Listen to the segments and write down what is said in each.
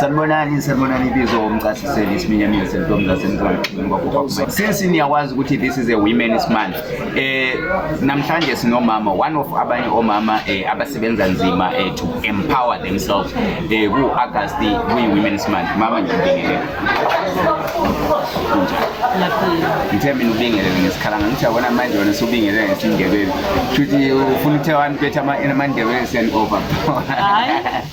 sanibonani sanibonani ibizo umcasiseli isiminyaminya sentombi zasemzansi since niyakwazi ukuthi this is a women's month eh namhlanje sinomama one of abanye omama eh, abasebenza nzima eh, to empower themselves eh ku August kuyi women's month mama nje ngibingelele ngithe mina ubingelele ngesikhalanga ngithi yabona manje wena subingelele ngesindebele shuthi ufuna uthe abantu bethu amandebele send over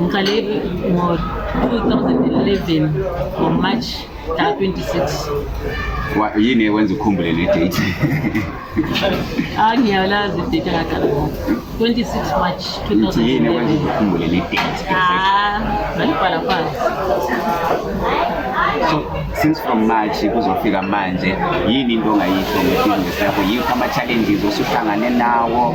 Ngiqale ngo-2011 ngoMarch mhla 26. Wa- Yini ekwenza ukhumbule le date? Ah ngiyalazi idate ngaqala ngo 26 March Ngithi yini ekwenza 2011. ukhumbule le date? Ah, ngalibhala phansi. So since from March kuzofika manje yini into ongayisho ngebusiness yakho? Yiphi ama-challenges osuhlangane nawo?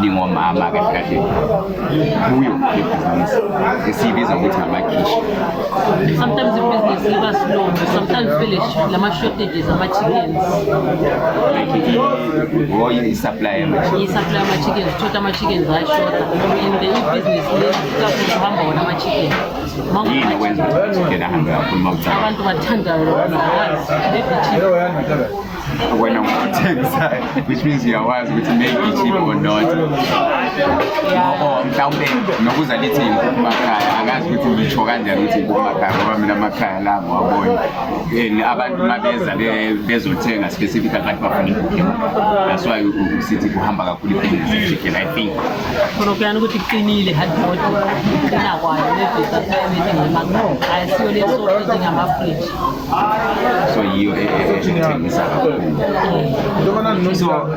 lingomama kahle kahle kuyo ibhizinisi esiyibiza ukuthi amakhishi sometimes ibhizinisi liba slow sometimes vele lama shortages ama-chickens oye i-supply i-supply ama-chickens thoda ama-chickens ayashoda and the ibhizinisi likakhulu uhamba wona ama-chicken yini okwenza ukuthi ama-chicken ahambe kakhulu uma ucala abantu bathanda lona bazi wena ngokuthengisayo which means uyawazi ukuthi maybe cheap or not ngoba mhlawumbe nokuza lithi yinkukhu makhaya akazi ukuthi ngisho kanjani ukuthi yinkukhu makhaya ngoba mina amakhaya la ngiwabona and abantu uma beza bezothenga specific abantu bafuna inkukhu that's why sithi kuhamba kakhulu ibhizinisi chicken i think khona kuyani ukuthi kuqinile hadbod qina kwayo nebhizinisi ayisiyo leso ngama-fridge so yiyo e- e- e- ethengisa kakhulu so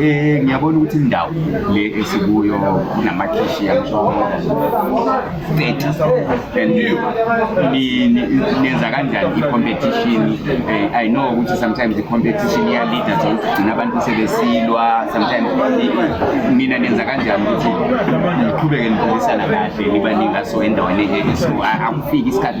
eh ngiyabona ukuthi indawo le esikuyo kunamakhishi yangisho 30 and ni- ni- nenza kanjani i-competition Eh, i know ukuthi sometimes i-competition iyalida so ugcina abantu sebesilwa sometimes i- mina nenza kanjani ukuthi niqhubeke niphilisana kahle nibaningi aso endaweni e- e- so a- akufiki isikhathi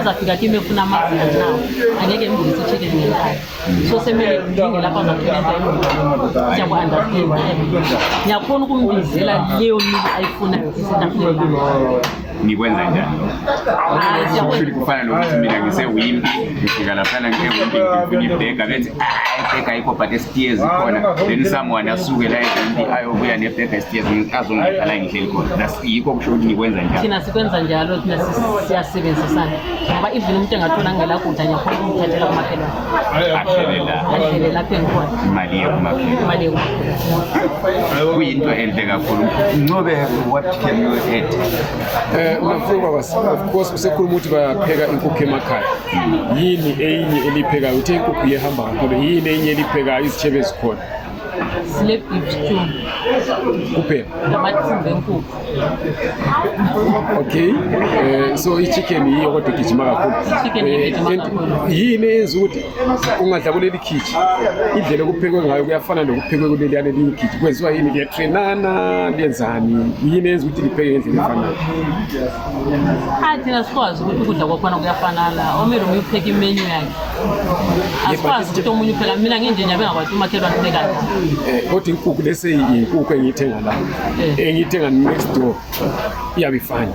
uzafika kimi efuna amazinga na angeke ngibuyise i-chicken ngenkani so semele ngidinge lapho azakhulenta imali siyaku-understanda ngiyakhona ukumbizela leyo mili ayifunayo isentafuleni ngikwenza njani shuthi kufana nokuthi mina ngisewimpi ngifika laphana ngewimpi ngifuna ibhega bethi ah, ibhega ayikho but esitiyezi zikhona then someone asuke la ewimpi ayobuya nebhega esitiyezi azongidlala ngihleli khona yikho kusho ukuthi nikwenza njalo thina sikwenza njalo thina siyasebenzisana ngoba even umuntu engathola ngela kudla ngiyakhona ukumthathela kumakhelwane ahlele lapho engikhona imali yekumakhelwane kuyinto enhle kakhulu ncobe what can you add eh mafungwa was of course usekhuluma ukuthi bayapheka inkukhu emakhaya yini eyinye eliphekayo uthe inkukhu yehamba kakhulu yini eyinye eliphekayo izitshebe ezikhona sile beef stew kuphe namathumba enkukhu okay eh, so i-chicken yiyo kodwa igijima kakhulu eh, yini eyenza ukuthi ungadla kuleli khiji indlela okuphekwe ngayo kuyafana nokuphekwe kuleliyana elinye ikhiji kwenziwa yini kuyatrenana liyenzani yini eyenza ukuthi lipheke ngendlela efanayo athina sikwazi ukuthi ukudla kwakhona kuyafanana omele ume upheke imenyu yakhe asikwazi ukuthi omunye upheka mina nginje nje bengakwazi umakhelwane upheka eh kodwa inkukhu lese inkukhu engiyithenga la eh. engiyithenga next door iyabifana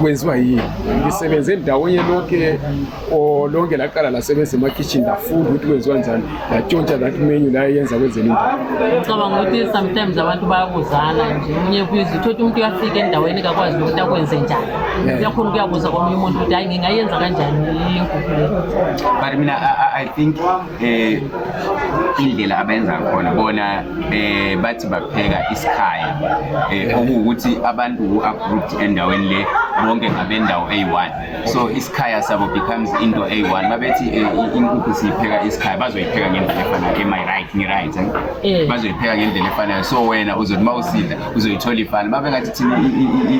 kwenziwa yini ngisebenze endaweni lonke lonke laqala lasebenza emakitchen lafunda ukuthi kwenziwa njani yatshontsha that menu la yenza kwezelimo ngicabanga ukuthi sometimes abantu bayabuzana nje omunye kuyiza uthothi umuntu uyafika endaweni kakwazi ukuthi akwenze njani uyakhona ukuyabuza komunye umuntu ukuthi hayi ngingayenza kanjani inkukhu le but mina i think eh, indlela abayenza khona bona eh, bathi bapheka isikhaya eh, okuwukuthi abantu who are grouped endaweni le bonke ngabendawo eyi-one so isikhaya sabo becomes into a1 babethi eh, inkukhu siyipheka isikhaya bazoyipheka ngendlela efanayo am i right ngi right eh? eh. bazoyipheka ngendlela efanayo so wena uzothi uma usidla uzoyithola ifana babe ngathi thina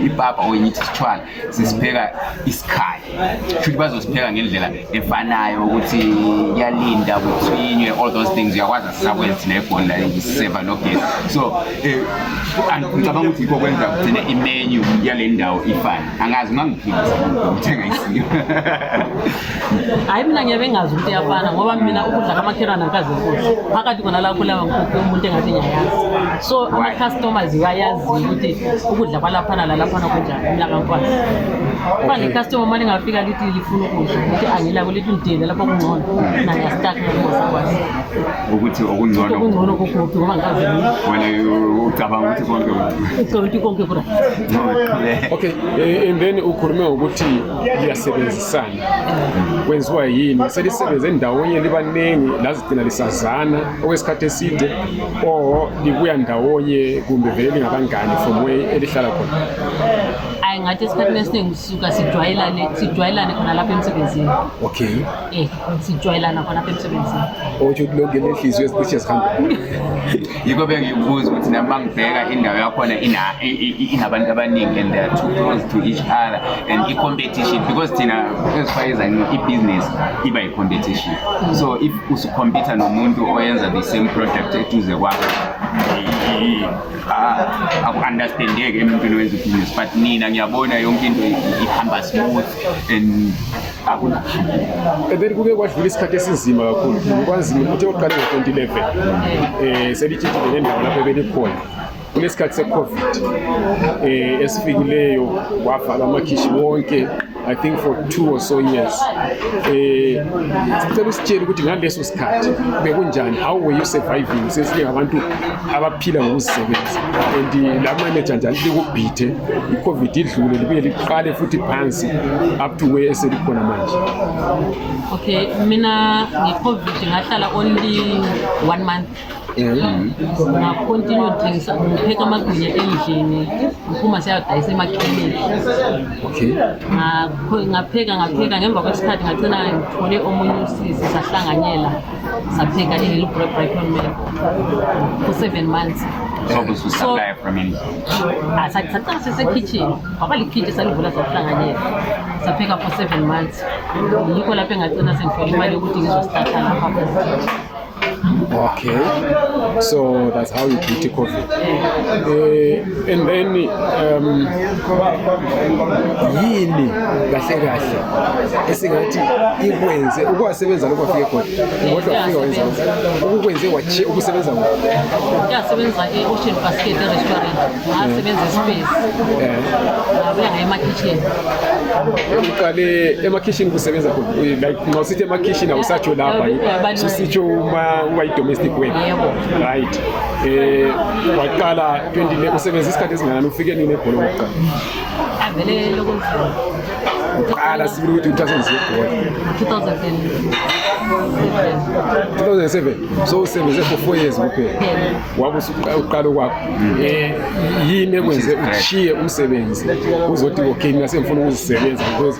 ipapa or ngithi sithwala sisipheka isikhaya futhi bazosipheka ngendlela efanayo ukuthi kuyalinda kuthinywe all those things uyakwazi asisakwenza thina egoli la ngiseva nogesi so eh, ngicabanga ukuthi yikho kwenza kugcine imenu yale ndawo ifane angazi ungangiphilisa ngithenga isiyo hayi mina ngiyabe ngazi ukuthi iyafana ngoba mina ukudla kamakhelwane akazi kuhle phakathi kona lakho lawa nkukhu umuntu engathi ngiyayazi so ama-customers iwayazi ukuthi ukudla kwalaphana lalaphana kunjani mina kankwazi uba necustomer uma lingafika lithi lifuna ukudla ukuthi angilako lithi undile lapho kungcono naye asitaki nakumasakwazi ukuthi okungcono okungcono kokubi ngoba ngikaze wena ucabanga ukuthi konke ucabanga ukuthi konke kura okay eh, and then ukhulume ukuthi liyasebenzisana kwenziwa yini selisebenze ndawonye libaningi lazigcina lisazana okwesikhathi eside or libuya ndawonye kumbe vele lingabangani from way elihlala khona hayi ngathi esikhathini esiningi sisuka sijwayelane sijwayelane khona lapha emsebenzini okay Eh, sijwayelana khona apha emsebenzini otsho ukuthi lonke le nhliziyo ezicishe zihambe yikho bengikubuza ukuthi nami mangibheka indawo yakhona inabantu abaningi and they're too close to each other and i-competition because thina ezifayezani i-business iba yi-competition so if usucompita nomuntu oyenza the same project eduze kwakho aku-understandeki emuntwini wenza ibhizinisi but nina ngiyabona yonke into ihamba smooth and and then kuke kwadlula isikhathi esinzima kakhulu kwanzima ukuthi oqale ngo-2011 um selitshintshile nendawo lapho ebelikhona kunesikhathi se-covid um esifikileyo wavala amakhishi wonke I think for two or so years. Eh sicela usitshele ukuthi ngaleso sikhathi bekunjani how were you surviving sesingabantu abaphila ngokuzisebenza and la manager njalo likubhithe i-covid idlule libuye liqale futhi phansi up to where eselikhona manje okay mina nge-covid ngahlala only one month ngakhontinue ngithengisa ngipheka amagwinya endlini ngiphuma siyadayisa emakhemini okay ngapheka ngapheka ngemva kwesikhathi ngagcina ngithole omunye usisi sahlanganyela sapheka i-hello bread breakfast meal for seven months Obus was So- supplier from India. Ah, sa- saqala sisekitchen waba likhitshi salivula sakuhlanganyela sapheka for seven months yikho lapho engagcina sengithole imali yokuthi ngizostarta lapha Okay. So that's how you beat COVID. Eh, And then um, yini kahle kahle esingathi ikwenze ukuwasebenza lokho afike khona ngoba afike wenza ukukwenze wathi ukusebenza ngo uyasebenza e Ocean Basket restaurant asebenza space eh abuya ngaye ma kitchen uqale ema kitchen kusebenza khona like ngosithi ema kitchen awusatsho lapha sisitsho uma uba i domestic work right eh waqala 20 usebenzisa isikhathi esingakanani ufike nini ebhola lokuqala avele lokuzama uqala sibili ukuthi uthathe nje ibhola 2007 so usebenze for 4 years kuphela wabe usuqala kwakho eh yini ekwenze ushiye umsebenzi uzothi okay mina sengifuna ukuzisebenza because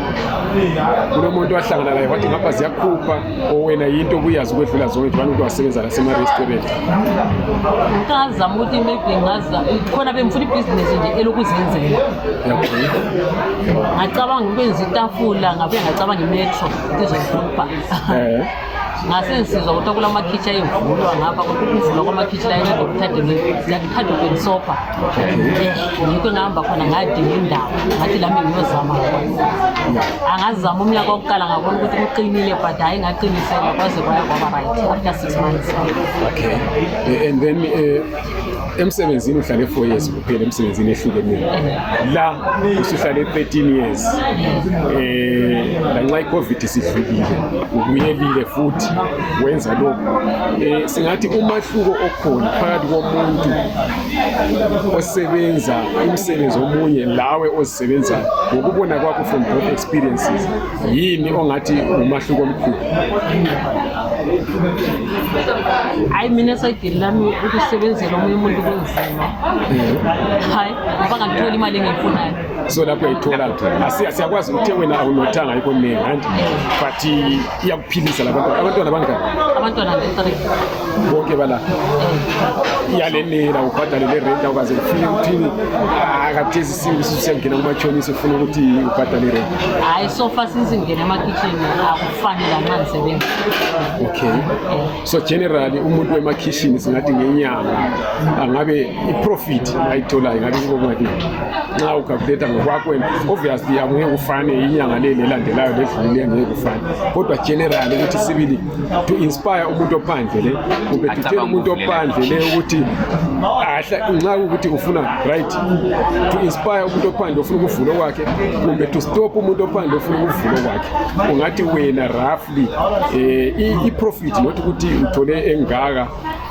kunomuntu wahlangana naye wathi ngapha ziyakhupha owena yinto kuyazi ukwedlula zonke njengoba umuntu wasebenza nasema-restaurant ngazama ukuthi maybe ngaza khona bengifuna ibhizinisi nje elokuzenzela ngacabanga ukwenza itafula ngabuye ngacabanga imetro ndizoyibhubha eh. ngasensizwa ukuthi kula makhitshi ayevulwa ngapha ukuvulwa kwamakhitshi la inceda ukuthatha ubenisopha ngikho engahamba khona ngadinga indawo ngathi lami ngiyozama khona angazama umnyaka wokuqala ngabona ukuthi kuqinile but hhayi ngaqinisela kwaze kwaya kwaba right after six months okay and then uh, emsebenzini uhlale 4 years kuphela emsebenzini ehlukeneni la usuhlale 13 years eh lanxa icovid sidlulile ubuyelile futhi wenza lokho eh singathi umahluko okhona phakathi komuntu osebenza umsebenzi omunye lawe ozisebenzayo ngokubona kwakho from both experiences yini ongathi umahluko omkhulu hayi mina sayidini lami ukusebenzela omunye umuntu kunzima hayi ngoba ngakuthola imali engiyifunayo so lapho uyayithola siyakwazi ukuthi wena awunothanga yikho ningi anti but iyakuphilisa labantwana abantwana bangani abantwana bethree bonke bala iyalenela ubhadale le rent awukaze ufike uthini akathezi Siyini sisiyangena kumachonisa ufuna ukuthi ubhadale rent? Hayi so far since ngingena emakitchen akufanele anxa ngisebenza. Okay. So generally umuntu wemakitchen singathi ngenyanga angabe iprofit ayitholayo ngabe kubo kungathi nxa ucalculate ngokwakho wena obviously akungeke ufane inyanga le lelandelayo ledlule ngeke ufane. Kodwa generally ukuthi sibili to inspire umuntu ophandle le ubethutshela umuntu ophandle le ukuthi nxa ukuthi ufuna right to inspire umuntu ophandle ofuna ukuvula kwakhe kumbe to stop umuntu ophandle ofuna ukuvula kwakhe ungathi wena roughly um eh, i-profit not ukuthi uthole engaka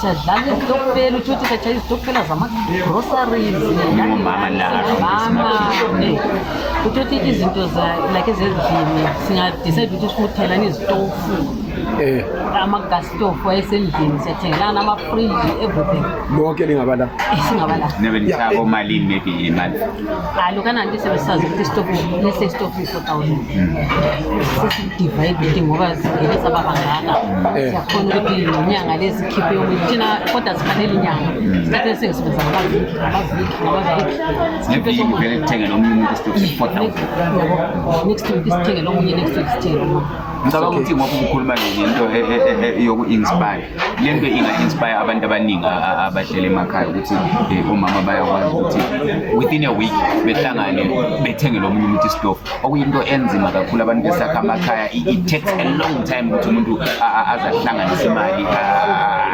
siyadlala izitokfela utsho ukuthi satshaya izitokfela zama-groceries mama utsho ukuthi izinto like ezendlini singadicide ukuthi sifuna ukuthelana izitofu eh. ama-gas stofu ayesendlini siyathengelana ama-fridge everything lonke lingaba la singaba la hayi lokhu ananti sebesazi ukuthi isitofu lesi isitofu i-four thousand sesiyidivayide ukuthi ngoba zingene saba bangaka Eh. siyakhona ukuthi inyanga lezi khiphe yokuthi thina kodwa zifanele inyanga sikhathi esingisebenza ngabaviki ngabaviki ngabaviki Sikhiphe ngeviki somuntu. vele kuthenge nomunye umuntu isitofu se-four thousand Yabo, next week isithenge lomunye next week isithenge lomunye ngicabanga ukuthi ngoba ubukhuluma nje ngento e- e- e- e- yoku-inspire le nto inga-inspire abantu abaningi abahlele emakhaya ukuthi eh, omama bayakwazi ukuthi within a week behlangane bethengele omunye umuntu isitofu okuyinto enzima kakhulu abantu besakha amakhaya it takes a long time ukuthi umuntu aze ahlanganise imali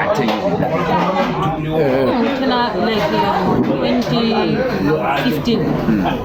athenge izinto eh.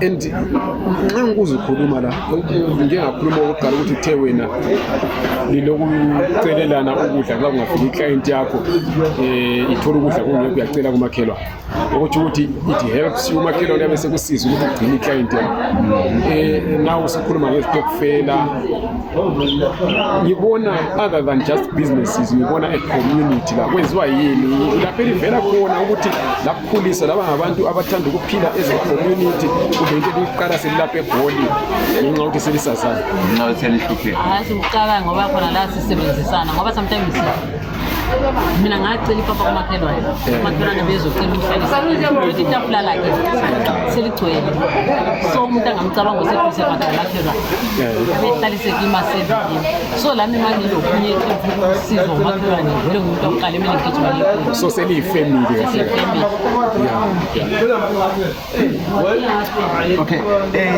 and nxa ngikuze ukhuluma la njengakhuluma okokuqala ukuthi kuthe wena lilokucelelana ukudla nxa kungafika iclient yakho um ithole ukudla kungekho uyacela kumakhelwane okutsho ukuthi it helps umakhelwane abe sekusiza ukuthi ugcine iclient yakho um naw usukhuluma ngezitokufela ngibona other than just businesses ngibona a community la kwenziwa yini lapho elivela khona ukuthi Khulisa laba ngabantu abathanda ukuphila as a community kumbe into eliqala selilapha egoli ngenxa yokuthi selisazana nxa selihlupheka hayi sikuqala ngoba khona la sisebenzisana ngoba sometimes mina ngacela ipapa kumakhelwane umakhelwane bezocela umhlalisauthi itafula lakhe seligcwele so umuntu angamcabanga oseduze kwakhe makhelwane abehlalisekima sevini so lami manje lokunye usizo umakhelwane vele ngumuntu akuqala emele ngigijima le so seliyifamily kahle okay eh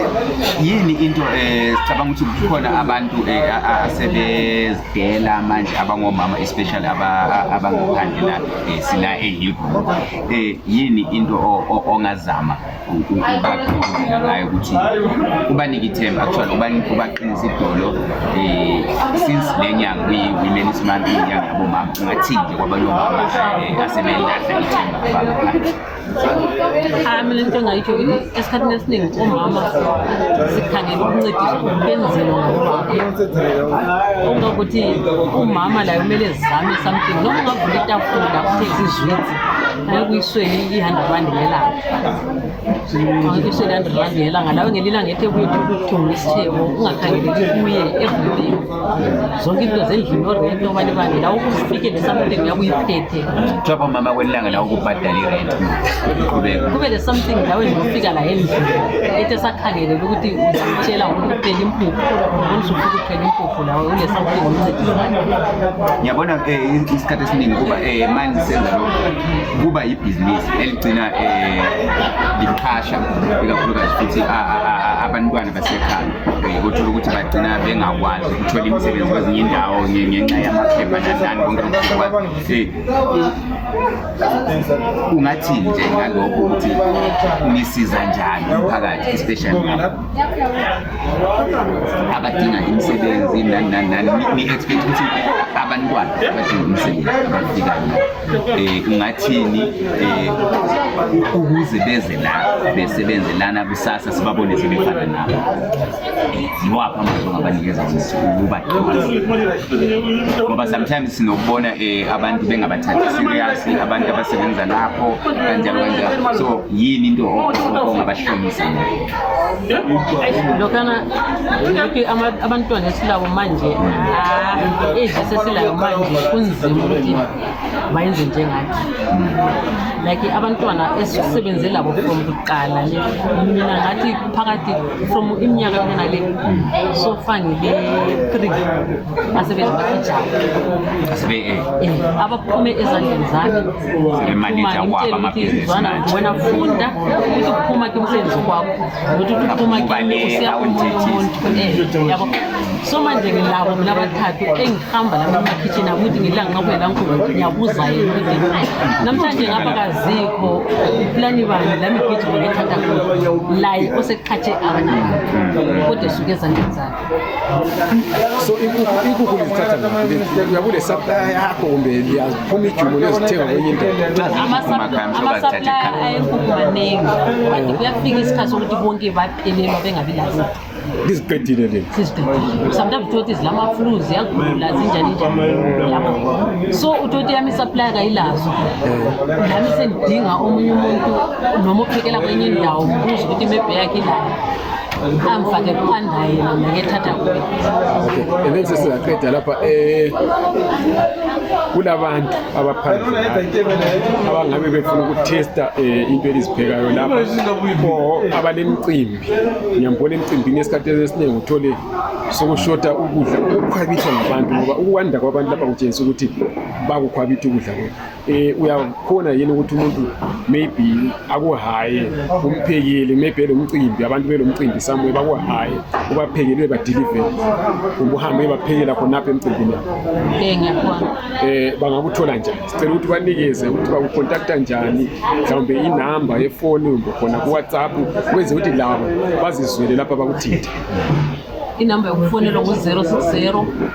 yini into eh sicabanga ukuthi kukhona abantu eh, asebezidela manje abangomama especially abangaphandle la eh, sila ehilgo eh yini into ongazama ubagqugquzela ngayo ukuthi ubanike ithemba actually ubaqinisa idolo um since le nyanga kuyi-women's month inyanga yabomama ungathini nje kwabanye omama eh, asebelahla ithemba abangaphandle hayi mina into engayitsho esikhathini esiningi omama sikhangela ukuncediswa kwenziwa ngobaba ongakuthi umama layo kumele zizame something noma ungavula itafula kuthe izizwitsi Hayi kuyisweni i-hundred rand ngelanga kuyisweni i-hundred rand ngelanga lawe ngelinye ilanga ethe kuye ukuthenga isitheko ungakhangeleki kuye everything zonke into zendlini orenti obanye banye lawo kufike le something uyabe uyiphethe Job mama kwelanga la ukubhadala irent. Qhubeka. kube le something lawe nje ufika la endlini ethe sakhangelele ukuthi uzamtshela ukuthi uphela impuphu ubona usufika uphela impuphu nawe unesakhiwo umncedisa ngiyabona um isikhathi esiningi kuba um manje senza lokho kuba yibhizinisi eligcina um liqhasha ikakhulukazi futhi abantwana basekhaya um kuthola ukuthi bagcina bengakwazi ukuthola imisebenzi kwezinye indawo ngenxa yamaphepha nanani konke lokukwazi ungathi nje ngalokho ukuthi nisiza njani umphakathi especially abadinga imisebenzi nani nani nani ni-expect ukuthi abantwana abadinga imisebenzi abafikayo um eh, ungathini um ukuze beze la besebenze lana kusasa sibabone sebefana nabo yiwaphi amazwi ongabanikeza ukuba ngoba sometimes sinokubona um abantu bengabathathi serious abantu abasebenza lapho kanjalo kanjalo so yini into ongabahlomisa lokhana lokhu abantwana esilabo manje age esesilayo manje kunzima ukuthi bayenze njengathi like abantwana esisebenze labo from kuqala le mina ngathi phakathi from iminyaka yona le so far ngile-three asebenzi bathijana eh, abaphume ezandleni zami sinemanija kwaba amabhizinisi manje wena funda ukuthi kuphuma ke umsebenzi kwakho nokuthi kuphuma ke usiya umuntu eh, yabo so manje ngilabo mina abathathu engihamba la emakhitshini akuthi ngidla nqabuye la nkulu ngiyabuza yena ukuthi namhlanje ngapha kazikho uplani bani la migijimo ngithatha khona laye oseqhathe abanye kodwa esuke ezandleni zakhe so inkukhu inkukhu lizithatha ngaphi uyabule supply yakho kumbe liyaphuma ijumo liyozithenga kwenye into ama-supplier ayenkukhu maningi but kuyafika isikhathi sokuthi bonke baphelelwa bengabi lazo liziqedile leli siziqedile sometimes uthoti zilama-flu ziyagula zinjani njani yabo so uthoti yami isaplaya kayilazo nami sendidinga omunye umuntu noma uphekela kwenye indawo mbuza ukuthi imebhe yakhe ilayo angifake kuphanda yena mina ngiyethatha kuye okay and then sesingaqeda lapha eh kulabantu abaphandle abangabe befuna ukutesta eh, into eliziphekayo lapha or abanemicimbi ngiyambona emcimbini esikhathi esiningi uthole sokushota ukudla ukukhwabithwa ngabantu ngoba ukwanda kwabantu lapha kutshengisa ukuthi bakukhwabitha ukudla kwethu eh uyakhona yini ukuthi umuntu maybe akuhaye umphekeli maybe lomcimbi abantu belomcimbi somewhere bakuhaye ubaphekelwe badeliver ubuhambe baphekela khona lapha emcimbini eh ngiyakhona eh bangakuthola njani sicela ukuthi banikeze ukuthi bakukontakta njani mhlawumbe inamba yefoni kumbe khona ku WhatsApp kwenze ukuthi labo bazizwele lapha bakuthinte inamba yokufonela ngu-060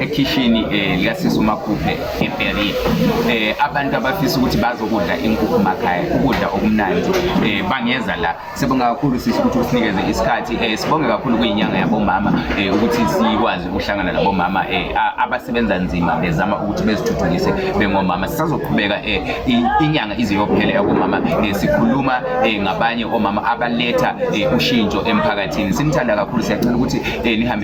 ekhishini eh, likasisi umakhuphe ebheri eh, abantu abafisa ukuthi bazokudla inkukhu makhaya ukudla okumnandi eh, bangeza la sibonga kakhulu sisi ukuthi usinikeze isikhathi eh, sibonge kakhulu kuyinyanga yabomama eh, ukuthi sikwazi ukuhlangana nabomama eh, a- abasebenza nzima bezama ukuthi bezithuthukise bengomama sisazoqhubeka eh, i- inyanga ize yophela yabomama eh, sikhuluma eh, ngabanye omama abaletha eh, ushintsho emphakathini simthanda kakhulu siyacela ukuthi eh, nihambe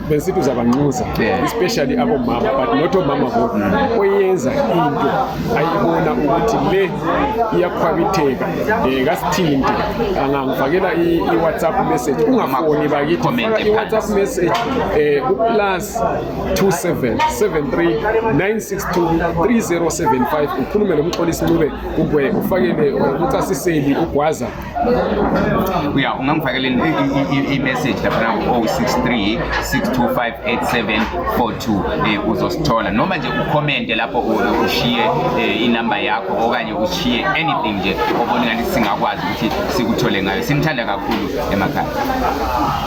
besithi uzabanxusa Yeah. especially abomama but not omama bodwa oyenza into ayibona ukuthi le iyakhwabitheka um kasithinte angangifakela i- i-whatsapp message ungafoni bakithi Comment faka i-whatsapp phansi. message um uplus 2773962307 ukhulume lo mxolisi ncube ugwe ufakele umcasiseli ugwaza uya ungangifakela i-message laphana ku-063 6258742 eh, uzosithola noma nje ukhomente lapho ushiye eh, inamba yakho okanye ushiye anything nje obona ngathi singakwazi ukuthi sikuthole ngayo simthanda kakhulu emakhaya